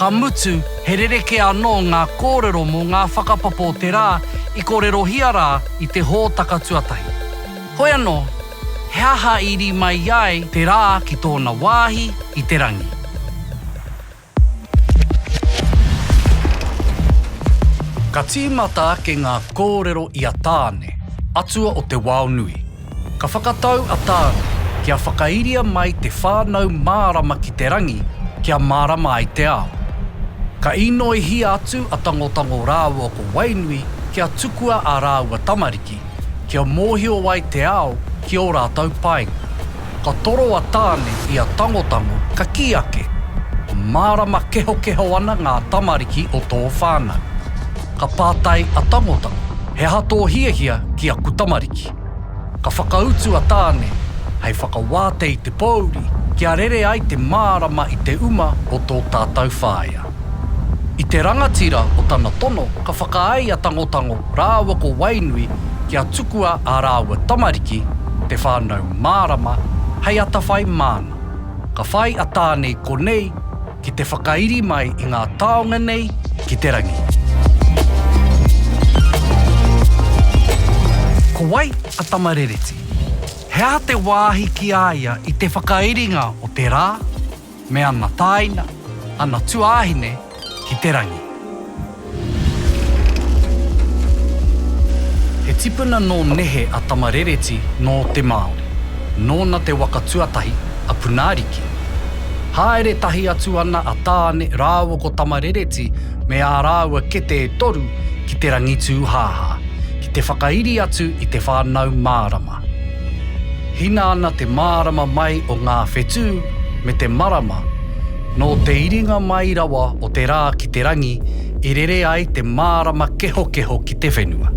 Ka mutu, he rerekē anō ngā kōrero mō ngā whakapapa o te rā i kōrerohia rā i te hōtaka tuatahi. Hoi anō, he aha i rī mai ai te rā ki tōna wāhi i te rangi? Ka tīmata ake ngā kōrero i a Tāne, atua o te wao nui. Ka whakatau a Tāne kia whakairia mai te whānau mārama ki te rangi kia mārama ai te ao. Ka īnoihia atu a Tangotango rāua ko Wainui kia tukua ā rāua tamariki, kia mōhio ai te ao ki ō rātou painga. Ka toro a Tāne i a Tangotango ka kī ake, Mārama kehokeho ana ngā tamariki o tō whānau. Ka pātai a Tangotango, He aha tō hiahia ki aku tamariki? Ka whakautu a Tāne, Hei whakawāte i te pōuri kia rere ai te mārama i te uma o tō tātau whāea. I te rangatira o tana tono ka whakaae a Tangotango rāua ko Wainui kia tukua ā rāua tamariki te whānau mārama hei atawhai māna. Ka whai a Tāne i konei, ki te whakairi mai i ngā taonga nei ki te rangi. Ko wai a Tamarereti? He aha te wāhi ki a ia i te whakairinga o te rā me ana tāina, ana tuāhine ki te rangi? He tipuna nō nehe a Tama Rereti nō te Māori. Nōna te waka tuatahi, a Punaariki. Haere tahi atu ana a Tāne rāua ko Tama Rereti me ā rāua kete e toru ki te Rangitūhāhā, ki te whakairi atu i te whānau mārama. Hina ana te mārama mai o ngā whetū me te marama, nō te iringa mai rawa o te rā ki te rangi i rere ai te mārama kehokeho ki te whenua.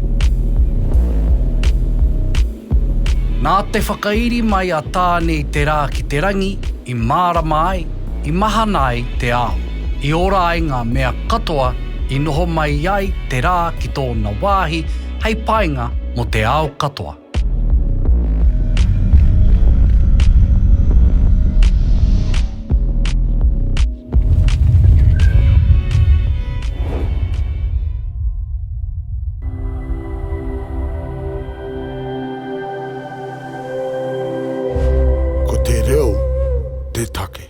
Nā te whakairi mai a Tāne i te rā ki te rangi, i mārama ai, i mahana ai te ao, i ora ai ngā mea katoa i noho mai ai te rā ki tōna wāhi, hei painga mō te ao katoa. Ko te reo te take.